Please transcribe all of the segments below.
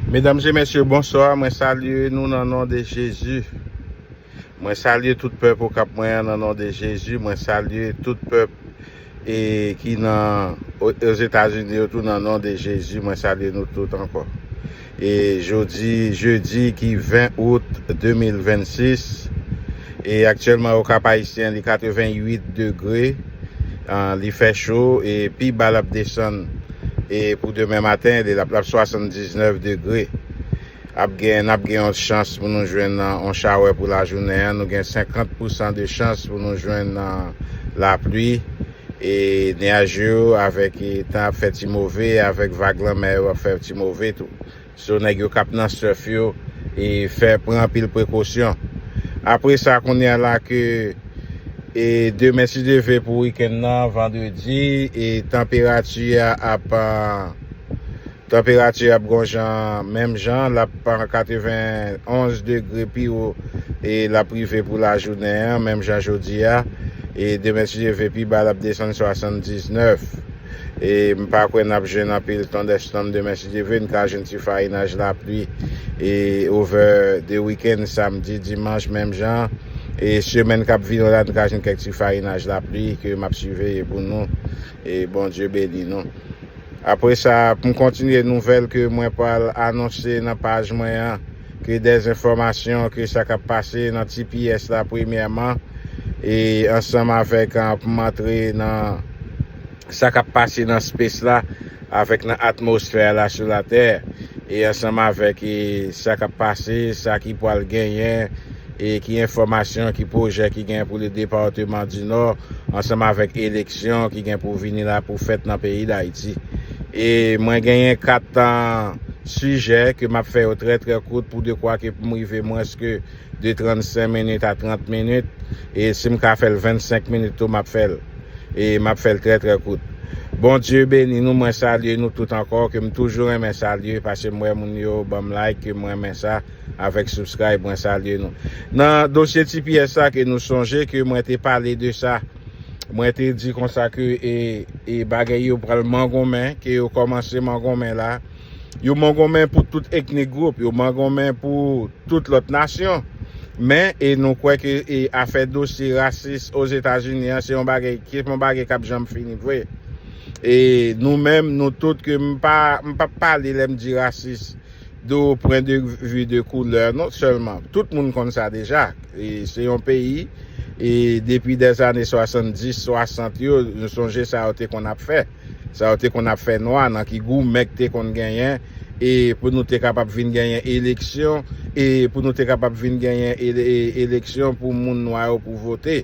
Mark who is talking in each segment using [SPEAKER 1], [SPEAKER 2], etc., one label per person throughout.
[SPEAKER 1] Medam e mesye bonswa mwen salye nou nan non de jezi mwen salye tout pèp okap mwen an nan non de jezi mwen salye tout pèp e ki nan ozetazini yo tou nan non de jezi mwen salye nou tout ankò e jodi jedi ki 20 out 2026. E aktyèlman o Kap Ayisyen li 88 degre, li fè cho e pi ba lap desann e pou demen maten li lap 79 degre. Ap gen nap gen yon chans pou nou jwenn yon chawè pou lajounen an, nou gen 50 pousan de chans pou nou jwenn lapli e nyaj yo avèk tan ap fè ti move avèk vag lanmè yo ap fè ti move tou. So nèg yo kap nan surf yo e fè pran anpil prekosyon. Apre sa kounya la ke e demen si Dye ve pou weekend nan vendredi e tanperati a ap tanperati ap gon jan menm jan lap 91 degre pi wo e lap rive pou lajounen an menm jan jodi a e demen si Dye ve pi ba lap desann 79. E m pa kwè n ap jwenn anpil thunderstorm demen si Dye vle n ka jwenn ti farinaj lapli e over the weekend samdi dimanch menm jan e semèn k ap vini an la n ka jwenn kèk ti farinaj lapli ke m ap siveye pou nou e Bondye beni nou. Apresa pou m kontinye nouvèl ke mwen pral anonse nan paj mwen an. ke dezenfòmasyon ke sa kap pase nan tps la premyèman e ansanm avèk pou m antre nan sa kap pase nan space la avèk nan atmosfè la sou latè e ansanm avèk e sa kap pase sa ki pwal genyen e ki enfòmasyon ki pwojè ki gen pou le departeman di nò ansanm avèk eleksyon ki gen pou vini la pou fèt nan peyi dayiti e mwen genyen 4 tan Sijè ke map fè yo trè trè kout pou dekwa ke poum rive mwens ke de 35 minit a 30 minit e sim ka fèl 25 minit tou map fèl e map fèl trè trè kout. Bondye beni nou mwen salye nou tout ankò kem toujou renmen salye pasem wè moun yo banm like kem renmen sa avèk subscribe mwen salye nou nan dosye tps la ke nou sonje ke mwen te pale de sa mwen te di konsa ke e e bagay yo pral mangonmen ke yo kòmanse mangonmen la. Yo mangonmen pou tout eknik gwoup, yo mangonmen pou tout lòt nasyon. Men, e nou kwè ke e afè dosye rasis Ozetazini an se yon bagay ki se yon bagay k ap janm fini vre. E nou menm, nou tout ke m pa m p ap pale lè m di rasis de o pwen de vi de koulè non sèlman. Tout moun konn sa deja. E se yon peyi e depi dèzane 70, 60 yo, nou sonje sa yo te konn ap fè. Sa yo te konn ap fè nwa nan ki goumen k te konn genyen e pou nou te kapab vin genyen eleksyon e pou nou te kapab vin genyen eleksyon pou moun nwa yo pou vote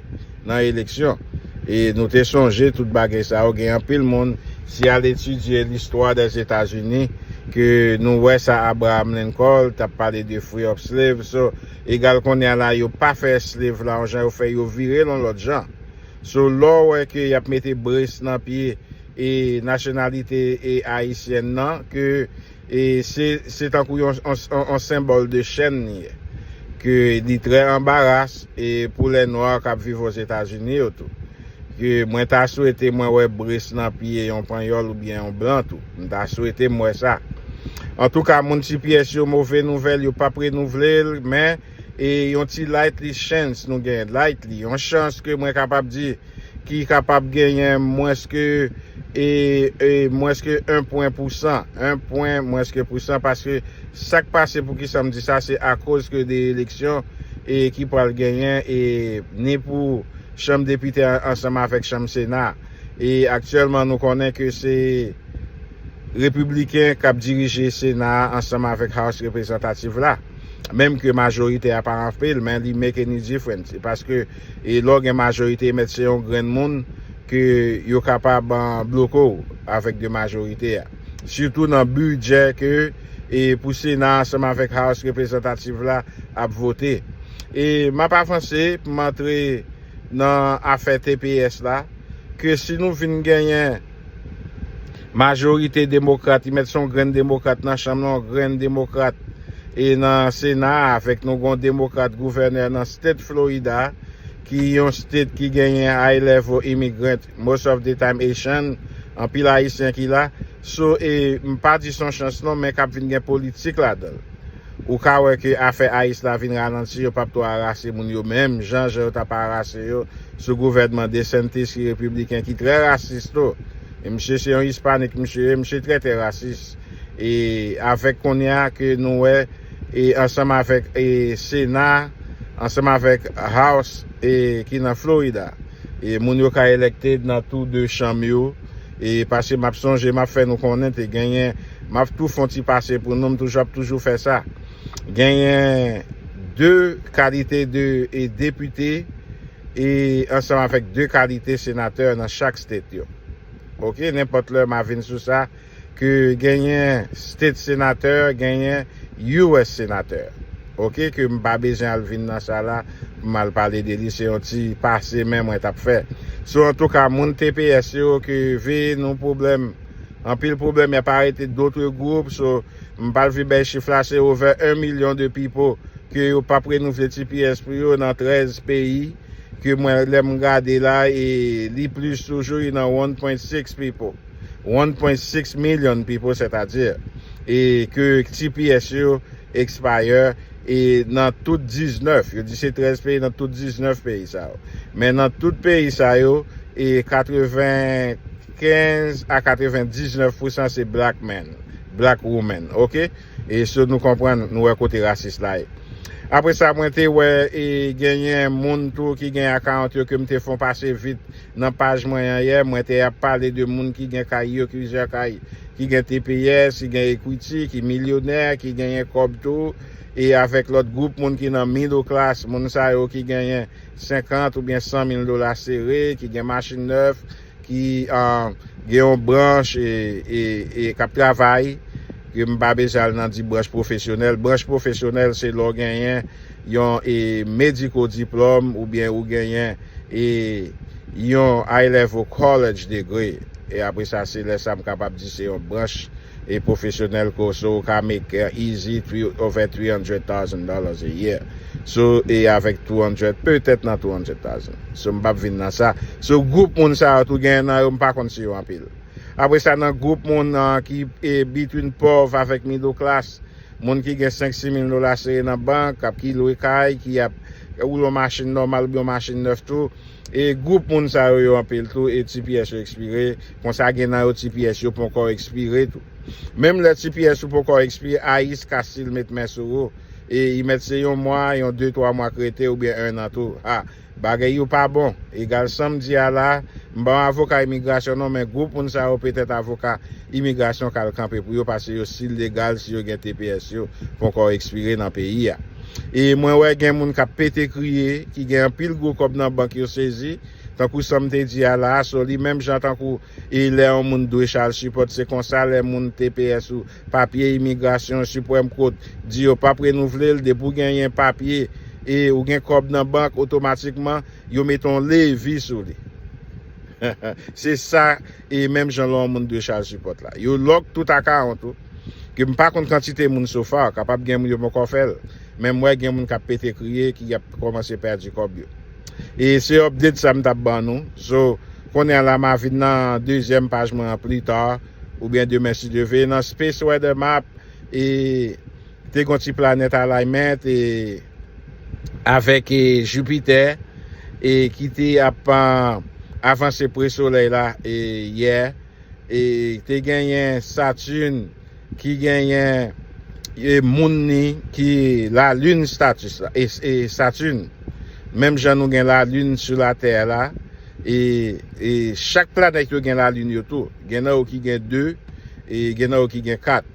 [SPEAKER 1] nan eleksyon e nou te sonje tout bagay sa yo gen anpil moun si al etidye listwa dè zetazini ke nou wè sa Abraham Lincoln t ap pale de free up slave so egal kounye a la yo pa fè slave la yon jan yo fè yo vire l yon lòt jan So lè w wè ke y ap mete brace nan pye e nasyonalite e ayisyèn nan ke e se se tankou yon yon senbòl de chèn li ye. Ke li trè anbaras e pou lè nwa k ap viv ozetazini yo tou. Ke mwen ta swete mwen wè brace nan pye yon panyòl oubyen yon blan tou. M ta swete m wè sa. Antouka moun cps yo move nouvèl yo p ap renouvle l men. E yon ti lightly chance nou gen, lightly, yon chans ke mwen kapab di ki kapab genyen mwens ke e e mwens ke 1 pwen pousan, 1 pwen mwens ke pousan paske sa k pase poukisa m di sa se akoz ke de eleksyon e ki pral genyen e ni pou chanm depite ansanm avèk chanm sena e aktyèlman nou konnen ke se Repibliken kap dirije Sena a ansanm avèk House Reprezantativ la. Menm ke majorite a pa anpil men li make any difference paske lè w gen majorite mèt se yon grenn moun ke yo kapab bloke w avèk de majorite a. Sitou nan bidjè ke pou Sena a ansanm avèk House Reprezantativ la ap vote. E m ap avanse pou m antre nan afè tps la ke si nou vin genyen. Majorite demokrat, li mèt se yon grenn demokrat nan chanm nan, yon grenn demokrat e nan sena a, fèk nou gen yon demokrat gouvènè nan state Florida ki yon state ki genyen high level immigrant, most of the time Haitian, anpil ayisyen ki la, so e m pa di se yon chans non men kap vin gen politik ladan l. Ou ka wè ke afè Aïs la vin ralanti, yo pap to arase moun yo menm jan jan yo tap arase yo sou gouvènman DeSantis ki repibliken ki trè rasis tou. E misye se yon ispanik misye ye, misye trè tè rasis. E avèk kounye a ke nou wè e ansanm avèk e sena, ansanm avèk House e ki nan Florida. E moun yo ka elekte nan tou 2 chanm yo. E pase map sonje map fè nou konnen te genyen, map tou fon ti pase pou nou, m toujou ap toujou fè sa. Genyen 2 kalite de e depite e ansanm avèk 2 kalite senatè nan chak state yo. Ok, nenpòt lè ma vin sou sa. ke genyen state senatè genyen US senatè ok ke m pa bezwen al vin nan sa la pou m al pale de li se yon ti pase men mwen tap fè so antouka moun tps yo ke ve nou pwoblèm anpil pwoblèm yap arete dotre gwoup so m pal vin bay chif la se ovè 1 milyon de pipo ke yo pap renouvle tps pou yo nan 13 peyi ke mwen lè m gade la e li plis toujou li nan 1.6 pipo. 1.6 million people sètadi e ke tps yo expire e nan tout 19 yo di se 13 peyi nan tout 19 peyi sa yo men nan tout peyi sa yo e 95 a 99 pousan se black men black women ok. E sou nou konprann, nou wè kote rasis la ye. Apre sa mwen te wè e genyen moun tou ki gen akawont yo ke m te fon pase vit nan paj mwen an yè. Mwen te ap pale de moun ki gen kay yo, plizyè kay, ki gen tps, ki gen ekwiti, ki milyonè, ki genyen kòb tou. E avèk lòt gwoup moun ki nan middle class, moun sa yo ki genyen 50 oubyen 100 mil dola sere, ki gen machin nèf. ki gen yon branch e kap travay ke m pa bezwen al nan di branch pwofesyonèl, branch pwofesyonèl se lè w genyen yon e medical diplom oubyen ou genyen e yon A-level college degree e apre sa se lè sa m kapab di se yon branch. e profesyonèl ke w so ou ka make easy three over three hundred thousand dollars a year so e avèk two hundred petèt nan two hundred thousand so m pap vin nan sa so group moun sa yo tou gen nan yo m pa konn si yo anpil apre sa nan group moun ki e between pòv avèk middle class moun ki gen senk si mil dola sere nan bank ap ki lwe kay ki ap woule yon machin nòmal oubyen yon machin nèf tou. E group moun sa yo yo anpil tou e tps yo ekspire, konsa gen nan yo tps yo ponkò ekspire tou. Menm lè tps ou ponkò ekspire ice ka stil met men sou ou e i mèt se yon mwa, yon 2 3 mwa k rete oubyen 1 an tou. Ha! Bagay yo pa bon. Egal sam di a la, m pa yon avoka imigrasyon non men group moun sa yo petèt avoka imigrasyon k al kanpe pou yo pase yo stil legal si yo gen tps yo ponkò ekspire nan peyi a. E mwen wè gen moun kap pete kriye, ki gen anpil gwo kòb nan bank yo sezi, tankou sam te di a la a so li menm jan tankou e lè yon moun dwe chal sipòt se konsa lè moun tps ou papye imigrasyon supreme court di yo pap renouvle l depi w gen yen papye e ou gen kòb nan bank otomatikman yo mete yon levi sou li se sa E menm jan lò moun dwe chaje pòt la. Yo lòk tout akawont ou. Ke m pa konn kantite moun so far, kapab gen moun yo ponkò fè l. Men m wè gen moun k ap pete kriye ki ap kòmanse pèdi kòb yo. E se update sa m t ap ban nou. So, kounye a la m a vin nan dezyèm paj mwen an plus tard oubyen demen si Dye ve. Nan Space Weather Map e te gen yon ti planet alignment e. avèk Jipitè e ki te ap avanse pre Solèy la yè e te genyen Saturne ki genyen moun ni ki lalin Saturne menm jan nou gen lalin sou latè la e chak planèt yo gen lalin yo tou gen nan yo ki gen 2 e gen nan yo ki gen 4.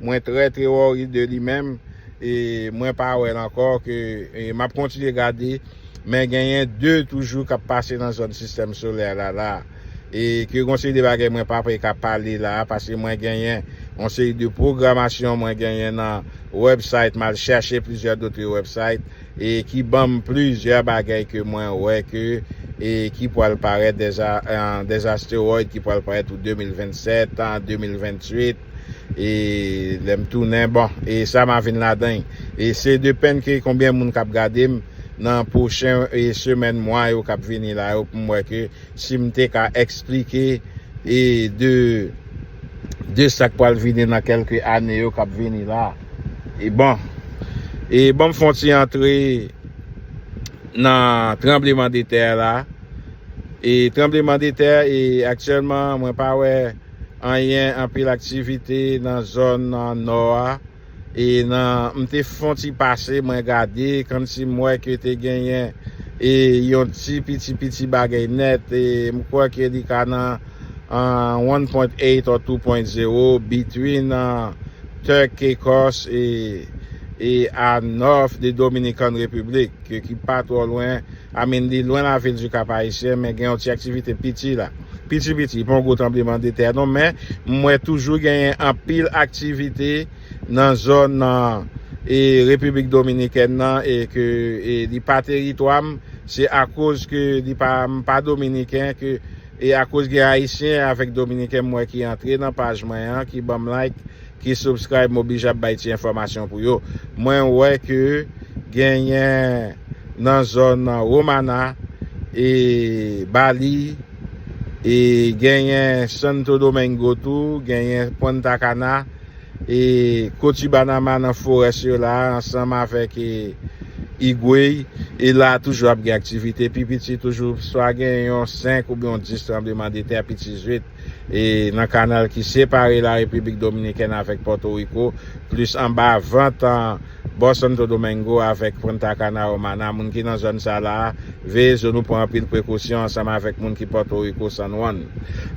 [SPEAKER 1] Mwen trè treori de li menm e mwen pa wè l ankò ke map kontinye gade men genyen 2 toujou kap pase nan zòn sistèm solè la la e ke gon seri de bagay mwen pa pe ka pale la paske mwen genyen yon seri de pwogramasyon mwen genyen nan website mal chèche plizyè dotre website e ki banm plizyè bagay ke mwen wè ke e ki pwal parèt des asteroid ki pwal parèt pou 2027 2028. E lèm tounen bon e sa ma vin ladan e se de pèn ke konbyen moun kap gadem nan pwochen e semèn mwa yo kap vini la yo poum wè ke sim te ka eksplike e de de sak pwal vini nan kelke ane yo kap vini la e bon e banm fon ti antre nan tranbleman de tè la e tranbleman de tè e aktyèlman mwen pa wè. Anyen anpil aktivite nan zòn nò a e nan m te fon ti pase mwen gade kmsi m wè ke te genyen e yon ti piti piti bagay nèt e m kwè ke li ka nan one point eight or two point zero between Turk Caicos e a north de Dominican Republic. ke ki pa twò lwen I mean li lwen lavil du Cap Haïtien men gen yon ti aktivite piti la piti piti pa yon gwo tranbleman de tè non men m wè toujou genyen anpil aktivite nan zòn nan e Repiblik Dominikèn nan e ke e li pa teritwa m se akoz ke li pa m pa dominiken ke e akoz gen ayisyen avèk dominiken m wè ki antre nan paj mwen an ki banm like ki subscribe m oblije ap bay ti enfòmasyon pou yo mwen wè ke genyen nan zòn Romana e Bali e genyen Santo Domingo tou genyen Punta Cana e Cotibanama nan forès yo la ansanm avèk Higüey e la toujou ap gen aktivite pi piti toujou swa gen yon 5 oubyen yon 10 tranbleman de tè pi ti zwit. e nan kanal ki separe la Repiblik Dominikèn avèk Pòto Riko, plis anba vant an bò Santo Domingo avèk Punta Cana Romana. Moun ki nan zòn sa la a, veye zo nou, pran anpil prekosyon ansanm avèk moun ki Pòto Riko, San Juan.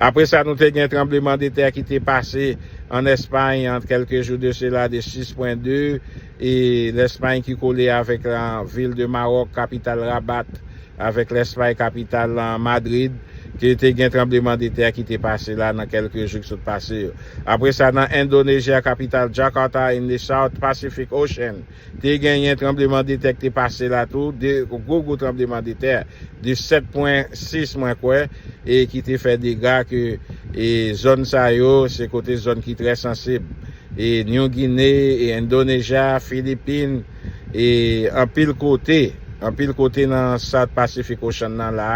[SPEAKER 1] Apre sa nou te gen tranbleman de tè ki te pase an Espay an kèlke jou de sela de 6 pwen 2. E Lèspay ki kole avèk la vil de Maròk, kapital Rabat, avèk Lèspay, kapital lan Madrid, ke te gen tranbleman de tè ki te pase la nan kèlke jou ki sot pase yo. Apre sa, nan Endonejya, kapital Jakarta, in the South Pacific Ocean, te genyen tranbleman de tè ki te pase la tou, 2 gwo gwo tranbleman de tè de 7 pwen 6 mwen kwè, e ki te fè dega ke e zòn sa yo se kote zòn ki trè sansib. e New Guinea e Indonesia, Philippines e anpil kote, anpil kote nan South Pacific Ocean nan la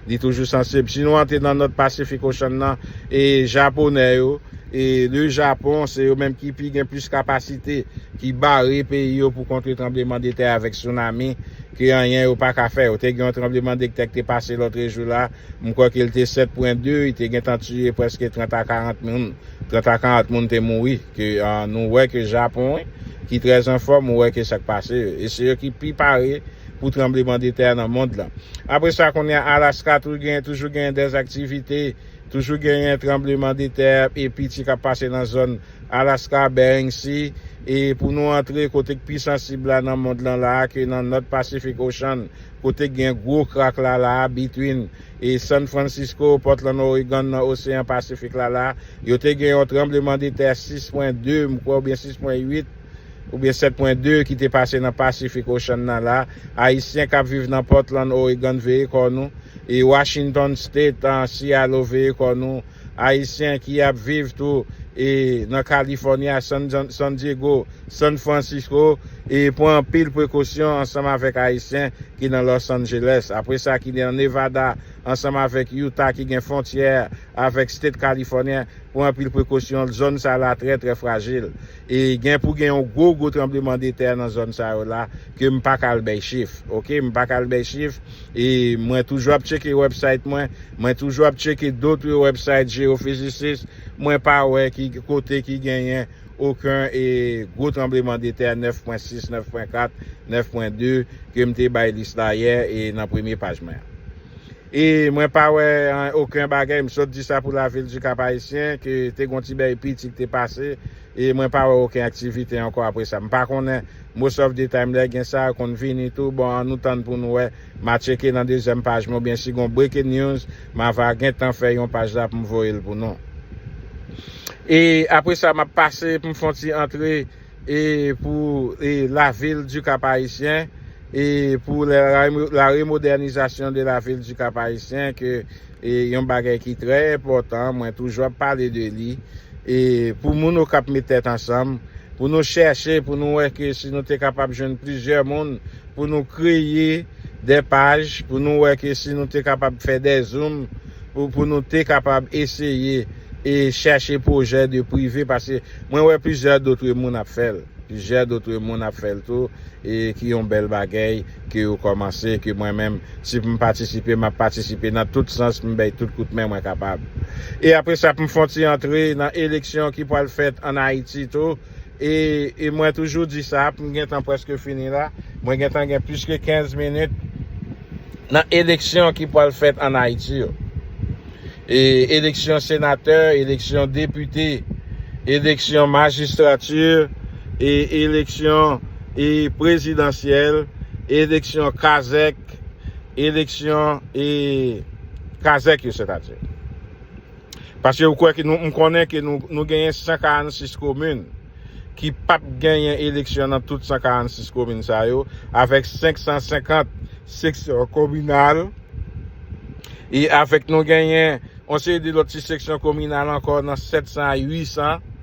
[SPEAKER 1] li toujou sansib. Si nou antre nan North Pacific Ocean nan e Japonè yo e le Japon se yo menm ki pi gen plis kapasite ki bare peyi yo pou kontre tranbleman de tè avèk tsunami ke anyen yo paka fè. Yo te gen yon tranbleman de tè ki te pase lotrejou la M kwè ke l te 7 pwen 2, i te gentan tiye prèske 30 a 40 moun, 30 a 40 moun te mouri, ke nou wè ke Japon ki trè anfòm, ou wè ke sa k pase yo, e se yo ki pi pare pou tranbleman de tè nan mond lan. Apre sa kounye a Alaska tou genyen, toujou genyen dè aktivite, toujou genyen tranbleman de tè e piti k ap pase nan zòn Alaska, Bering Sea, e pou nou antre kote k pi sansib la nan mond lan la a, ke nan North Pacific Ocean, kote k gen gwo krak la la a between e San Francisco, Portland Oregon nan Oseyan Pasifik la la, yo te gen yon tranbleman de tè 6 pwen 2 m kwè oubyen 6 pwen 8 oubyen 7 pwen 2 ki te pase nan Pacific Ocean nan la, Ayisyen kap viv nan Portland Oregon veye kò nou e Washington State, CILO veye kò nou. Ayisyen ki ap viv tou e nan California, San Diego, San Francisco e pran anpil prekosyon ansanm avèk Ayisyen ki nan Los Angeles, apre sa ki nan Nevada ansanm avèk Utah ki gen fontyè avèk State California pran anpil prekosyon, zòn sa la trè trè frajil. E gen pou gen yon gwo gwo tranbleman de tè nan zòn sa yo la ke m paka al bèy chif ok m paka al bèy chif e mwen toujou ap tcheke website mwen mwen toujou ap tcheke dotre website geophysicist mwen pa wè ki kote ki genyen oken e gwo tranbleman de tè 9 pwen 6 9 pwen 4 9 pwen 2 ke m te bay lis la yè e nan premye paj mwen an. E mwen pa wè an oken bagay, m sot di sa pou lavil du Cap Haïtien, ke te gon ti bèy piti ki te pase, e mwen pa wè oken aktivite ankò apre sa. M pa konnen, most of the time lè gen sa, konn vini tou, bon an nou tann pou nou wè, ma tcheke nan dezyèm paj mwen, oubyen si gon breaking news, ma va gen tan fè yon paj la pou m voye l pou nou. E apre sa m ap pase pou m fon ti antre e pou la ville du Cap Haïtien e pou la remodernisation de la ville du Cap Haïtien ke yon bagay ki trè enpòtan mwen toujou ap pale de li e pou moun Okap met tèt ansanm pou nou chèche pou nou wè ke si nou te kapab jwenn plizyè moun pou nou kreye de paj pou nou wè ke si nou te kapab fè de zoom pou nou te kapab eseye e chèche pwojè de prive paske Mwen wè plizyè dotre moun ap fèl, plizyè dotre moun ap fèl tou e ki yon bèl bagèy ke yo kòmanse ke mwen menm si pou m patisipe map patisipe nan tout sans m bèy tout kout men mwen kapab. E apre sa pou m fon ti antre nan eleksyon ki pwal fèt an Ayiti tou e e mwen toujou di sa pou m gentan pwèske fini la mwen gentan gen plis ke 15 minit nan eleksyon ki pwal fèt an Ayiti yo. Eleksyon senatè, eleksyon depite, eleksyon majistrati, eleksyon prezidansyèl, eleksyon kazèk, eleksyon kazèk yo sètadi. Paske ou kwè ke nou, m konnen ke nou genyen 146 komin. ki pa t genyen eleksyon nan tout 146 komin sa yo, avèk 550 seksyon kominal, e avèk nou genyen yon seri de lòt ti seksyon kominal ankò nan 700 a 800,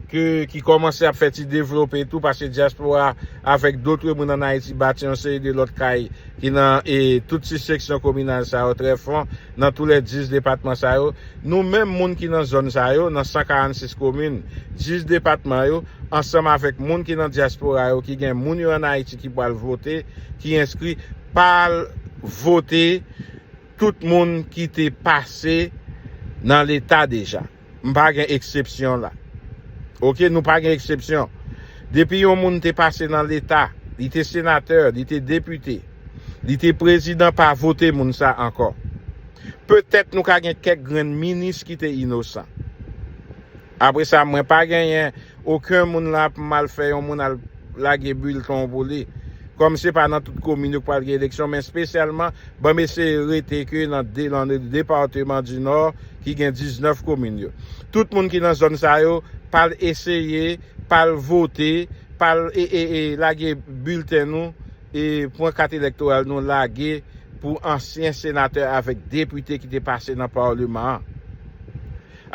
[SPEAKER 1] ke ki kòmanse ap fè ti devlope tou, paske dyaspora avèk dotre moun ann Ayiti bati yon seri de lòt kay ki nan e tout ti seksyon kominal sa yo trè fon. Nan tou lè 10 depatman sa yo, nou menm moun ki nan zòn sa yo, nan 146 komin, 10 depatman yo, ansanm avèk moun ki nan dyaspora yo ki gen moun yo an Ayiti ki pral vote, ki enskri, pa al vote tout moun ki te pase nan leta deja. M pa gen eksepsyon la. Ok nou pa gen eksepsyon. Depi yon moun te pase nan leta, li te senatè, li te depite, li te prezidan pa vote moun sa ankò. Petèt nou ka gen kèk grenn minis ki te inosan. Apre sa mwen pa genyen Oken moun la ap mal fè yon moun al lage bilten w pou li. Kòm se pa nan tout komin yo k pral gen eleksyon men spesyalman ban m eseye rete ke nan departeman di Nò ki gen 19 komin yo. Tout moun ki nan zòn sa yo pa al eseye, pa al vote, pa al lage bilten nou, pran kat elektoral nou lage pou ansyen senatè avèk depite ki te pase nan paleman an.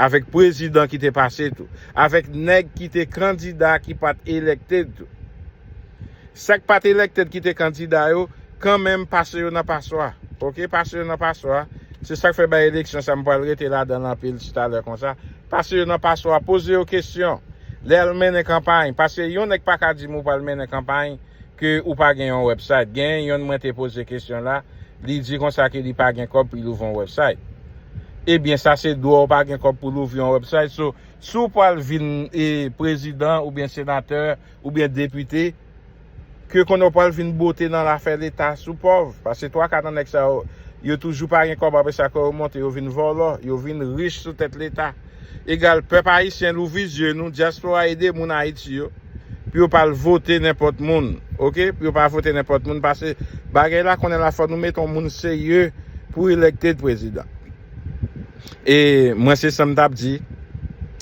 [SPEAKER 1] Avèk prezidan ki te pase tou. Avèk nèg ki te kandida ki pat elected tou. Sak pat elected ki te kandida yo, kanmenm pase yo nan paswa. Ok, pase yo nan paswa. Se sak fè bay eleksyon sa m pral rete ladanl anpil titalè konsa. Pase yo nan paswa, poze yo kesyon. Lè al mennen kanpay, paske yon nèg paka di m ou pral mennen kanpay. ke ou pa gen yon website. Gen yonn mwen te poze kesyon la, li di konsa ke li pa gen kòb pou li louvri yon website. Ebyen sa se dwa ou pa gen kòb pou louvri yon website. So, si ou pwal vin prezidan oubyen senatè oubyen depite, ke konnen ou pwal vin bote nan lafè leta si ou pòv. Paske twa ka nan nèg sa yo, yo toujou pa gen kòb apresa ke yo monte yo vin vòlò, yo vin rich sou tèt leta. Egal pèp ayisyen louvri zye nou diaspora ede moun ayiti yo pou yo pal vote nenpòt moun ok pou yo pa vote nenpòt moun pase bagay la konnen la fò nou mete yon moun serye pou elected president e mwen se sam tap di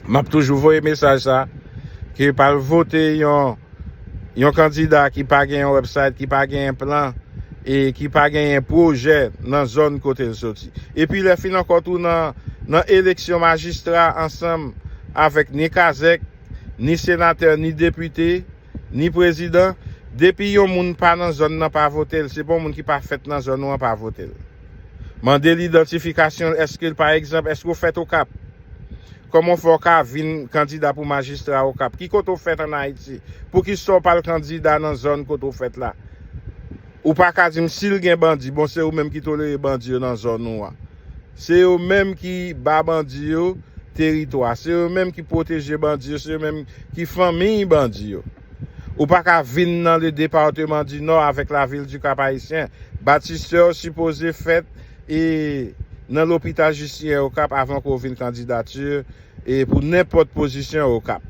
[SPEAKER 1] map toujou voye mesaj sa ke pal vote yon Yon kandida ki pa gen yon website, ki pa genyen plan, e ki pa genyen pwojè nan zòn kote l soti. Epi lè fin ankò tou nan eleksyon majistra ansanm avèk ni kazèk, ni senatè, ni depite, ni prezidan, depi yon moun pa nan zòn nan pa vote l, se pa yon moun ki pa fèt nan zòn ou an pa vote l. Mande l idantifikasyon l, èske l pa egzanp, èske ou fèt Okap? Koman w fè w ka vin kandida pou majistra Okap? Ki kote w fèt an Ayiti? Poukisa w pa al kandida nan zòn kote w fèt la? Ou pa ka di m si l gen bandi, bon se ou menm ki tolere bandi yo nan zòn ou an. Se yo menm ki ba bandi yo teritwa, se yo menm ki pwoteje bandi yo, se yo menm ki fanmiy bandi yo. Ou pa ka vin nan le departeman di Nò avèk la vil di Kap Ayisyen. Batistè w sipoze fèt e nan lopital Jistinyen Okap avan ke w vin kandidati e pou nenpòt pozisyon Okap.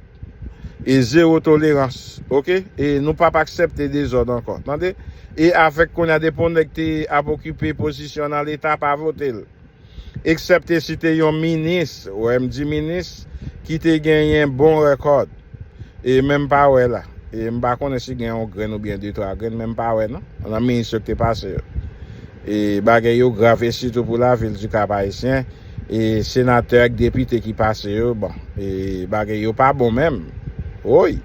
[SPEAKER 1] E zewo tolerans. Ok? E nou pap aksèpte dezòd ankò. Tande? E avèk kounye a depi yon nèg te ap okipe pozisyon nan leta pa vote l. eksèpte si te yon minis, wè m di minis, ki te genyen bon rekòt. E men m pa wè la. E m pa konnen si gen yon grenn oubyen de twa grenn men m pa wè non, nan minis yo ki te pase yo. E bagay yo grav e sitou pou lavil di Kap Ayisyen, e senatè ak depite ki pase yo, bon, e bagay yo pa bon menm. Woy!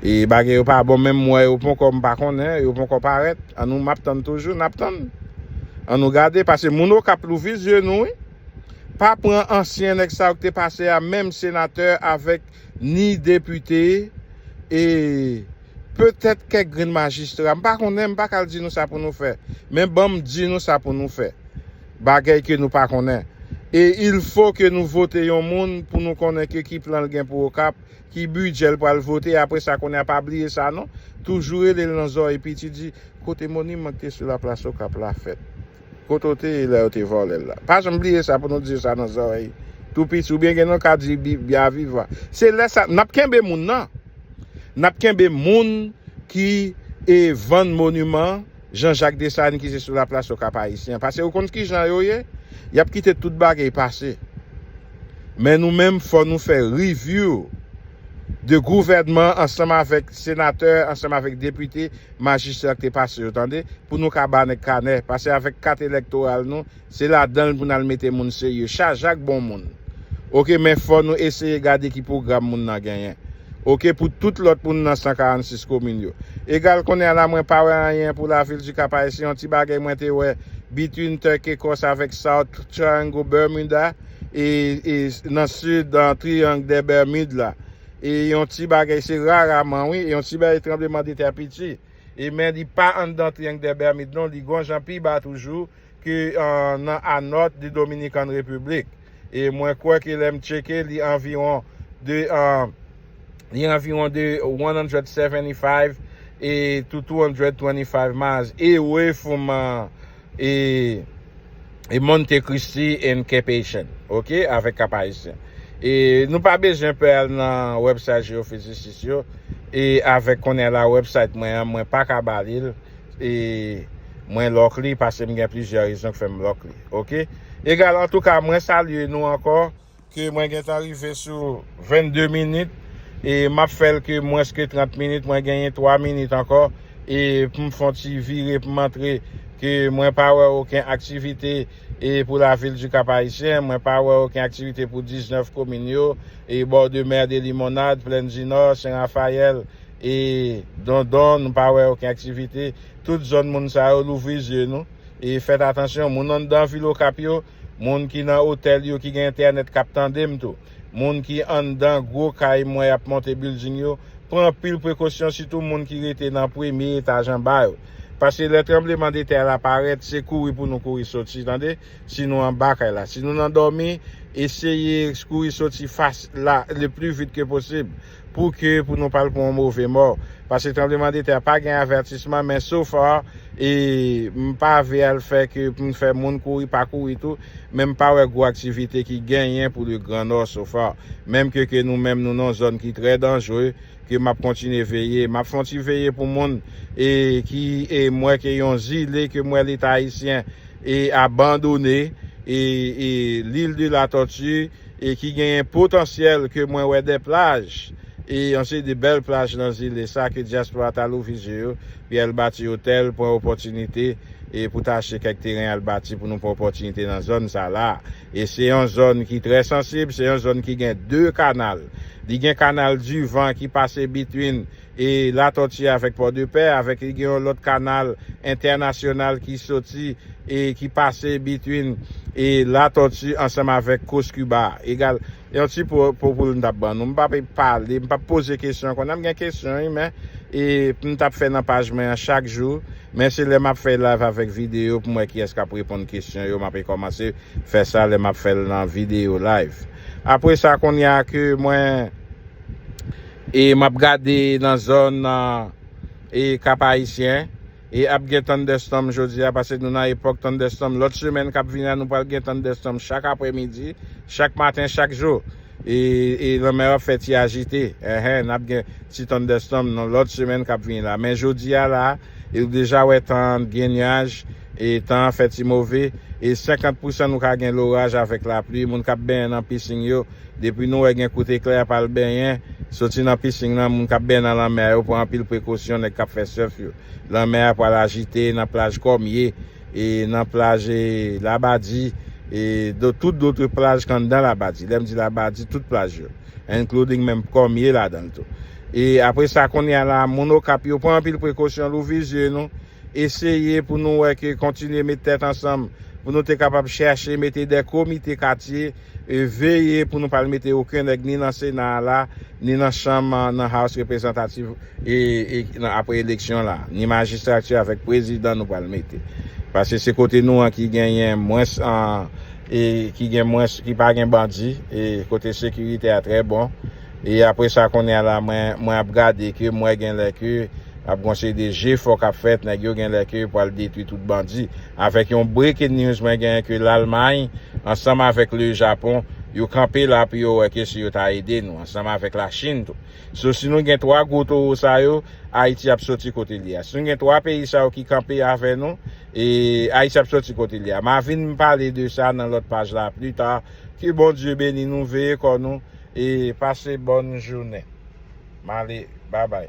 [SPEAKER 1] E bagay yo pa bon menm m wè yo ponkò m pa konnen, yo ponkò parèt. An nou m ap tann toujou, n ap tann. An nou gade pase moun okap louvri zye nou wi pa pran ansyen nèg sa yo ki te pase a menm senatè avèk ni depite e petèt kèk grenn majistra m pa konnen m pa ka al di nou sa pou nou fè men banm di nou sa pou nou fè bagèy ke nou pa konnen e il fo ke nou vote yon moun pou nou konnen ke ki plan l gen pou okap Ki bidjè l pral vote apre sa kounye a pa bliye sa non. Toujou rele l nan zòrèy piti di kote moniman ki te sou laplas okap la fèt? Kote w te ye lè yo te vòlè l la? Pa janm bliye sa pou nou di yo sa nan zòrèy tou piti oubyen gen nou ka di bya viva. Se lè sa nap kenbe moun nan. Nap kenbe moun ki vann moniman. Jean Jacques Dessalines ki se sou la plas yo kap Ayisyen. Pase yo konn ki jan yo ye, yap kite tout bagay pase. Men nou menm fò nou fè review de gouvènman ansanm avèk senatè, ansanm avèk depite, majistra ki te pase yo tande, pou nou ka ba nèg kanè. Pase avèk kat elektoral nou, Se ladanl pou nal mete moun serye. Chajak bon moun. Ok men fò nou eseye gade ki pwogram moun nan genyen. Ok pou tout lòt moun nan 146 komin yo. Egal konnen a la mwen pa wè anyen pou lavil du Cap Haïtien yon ti bagay mwen te wè between Turk Ecos avèk South Triangle Bermuda e nan sud an Triangle des Bermudes la e yon ti bagay se raraman wi e yon ti bagay tranbleman de tè piti e men li pa anndan Triangle des Bermudes non li gon jan pi ba toujou ki nan Anot di Dominican Republic e mwen kwè ke lè m tcheke li anviwon de li anviwon de 175 e to 225 miles away from e e Monte Christi and Cape Haitian ok avèk Cap Haïtien e nou pa bezwen pè al nan website Geophysicis yo e avèk kounye la website mwen an mwen pa ka ba li l. E Mwen lock li pasem gen plizyè rezon k fèm lock li ok egal antouka mwen salye nou ankò ke mwen gentan rive sou 22 minit e map fèl ke mwens ke 30 minit mwen genyen 3 minit ankò e poum fon ti vire poum antre ke mwen pa wè oken aktivite e pou lavil du kap ayisyen mwen pa wè oken aktivite pou 19 komin yo e bord de mer de limonade plaine du nord sen rafayèl E dondon nou pa wè oken aktivite tout zòn moun sa yo louvri zye nou e fèt atansyon moun anndan vil okap yo moun ki nan otèl yo ki gen entènèt kap tandem tou moun ki anndan gwo kay mwen yap monte bilding yo pran anpil prekosyon sitou moun ki rete nan premye etaj anba yo paske lè tranbleman de tè la parèt se kouri pou nou kouri soti tande si nou anba kay la si nou nan dòmi eseye kouri soti fas la le pli vit ke posib. Pou ke pou nou pa al pou yon move mò. Paske tranbleman de tè a pa gen avètisman men so far e m pa ve al fè ke pou m fè moun kouri pa kouri tou men m pa wè gwo aktivite ki genyen pou le gran nò so far. Menm ke ke nou menm nou nan yon zòn ki trè danjre ke m ap kontinye veye. M ap fè yon ti veye pou moun e ki e m wè ke yon zile ke m wè leta ayisyen e abandone e e l'ile de la tortue. e ki genyen potansyèl ke mwen wè dè plaj e yon seri de bèl plaj nan zile sa ke dyaspora ta louvri je yo pi al bati otèl pran opòtinite e pou ta achte kèk teren al bati pou nou pran opòtinite nan zòn sa la e se yon zòn ki trè sansib se yon zòn ki gen 2 kanal li gen kanal divan ki pase between E Latòti avèk Pòdepè, avèk li gen yon lòt kanal entènasyonal ki soti e ki pase between e Latòti ansanm avèk Kous Kiba a. Egal, yon ti po pou l m t ap ban nou. M p ape pale, m p ap poze kesyon an. Konnan m gen kesyon wi men e pou m t ap fè nan paj mwen an chak jou. Men se lè m ap fè live avèk videyo pou m wè kiyès k ap reponn kesyon yo. M ape kòmanse fè sa lè m ap fè l nan videyo, live. Apre sa, kounye a ke mwen. E map gade nan zòn e kap ayisyen e ap gen thunderstorm jodi a pase nou nan epòk thunderstorm lòt semèn kap vini a nou pral gen thunderstorm chak aprè midi chak maten chak jou e lanmè a ap fè ti ajite enhen nap gen ti thunderstorm nan lòt semèn kap vini la men jodi a la e ou deja wè tan an gen nuaj e tan an fè ti move e 50 pousan nou ka gen loraj avèk lapli moun kap benyen nan pising yo Depi nou wè gen kout eklè ap al benyen, soti nan pising lan, moun kap benyen nan lanmè a yo pran anpil prekosyon, nèg kap fè surf yo. Lanmè a pwal ajite nan plaj Kòmye, e nan plaj Labadi, e do tout dotre plaj k anndan Labadi. Lèm di Labadi, tout plaj yo. Including menm Kòmye ladan l tou. E apre sa kounye a la, moun Okap yo pran anpil prekosyon, louvri zye nou, eseye pou nou wè ke kontinye met tèt ansanm, pou nou te kapab chèche mete de komite katye, E veye pou nou pa al mete oken nèg ni nan sena a la, ni nan chanm nan house reprezantativ e nan apre eleksyon la. Ni majistrati avèk prezidan nou pral mete. Pase se kote nou an ki genyen mwens an e ki gen mwens ki pa gen bandi e kote sekirite a trè bon. E apre sa kounye a la mwen mwen ap gade ke m wè genlè ke ap gon seri de jefò kap fèt nèg yo genlè ke pwal detwi tout bandi avèk yon breaking news mwen gen ke lalmay ansanm avèk le japon yo kanpe la pou yo wè ke si yo ta ede nou ansanm avèk la chine tou so si nou gen 3 gwo towo sa yo ayiti ap soti kote li a si nou gen 3 peyi sa yo ki kanpe avè nou e ayiti ap soti kote li a ma vin pale de sa nan lòt paj la pli ta ke bondye beni nou veye kò nou. E pase bòn jounen. M ale babay.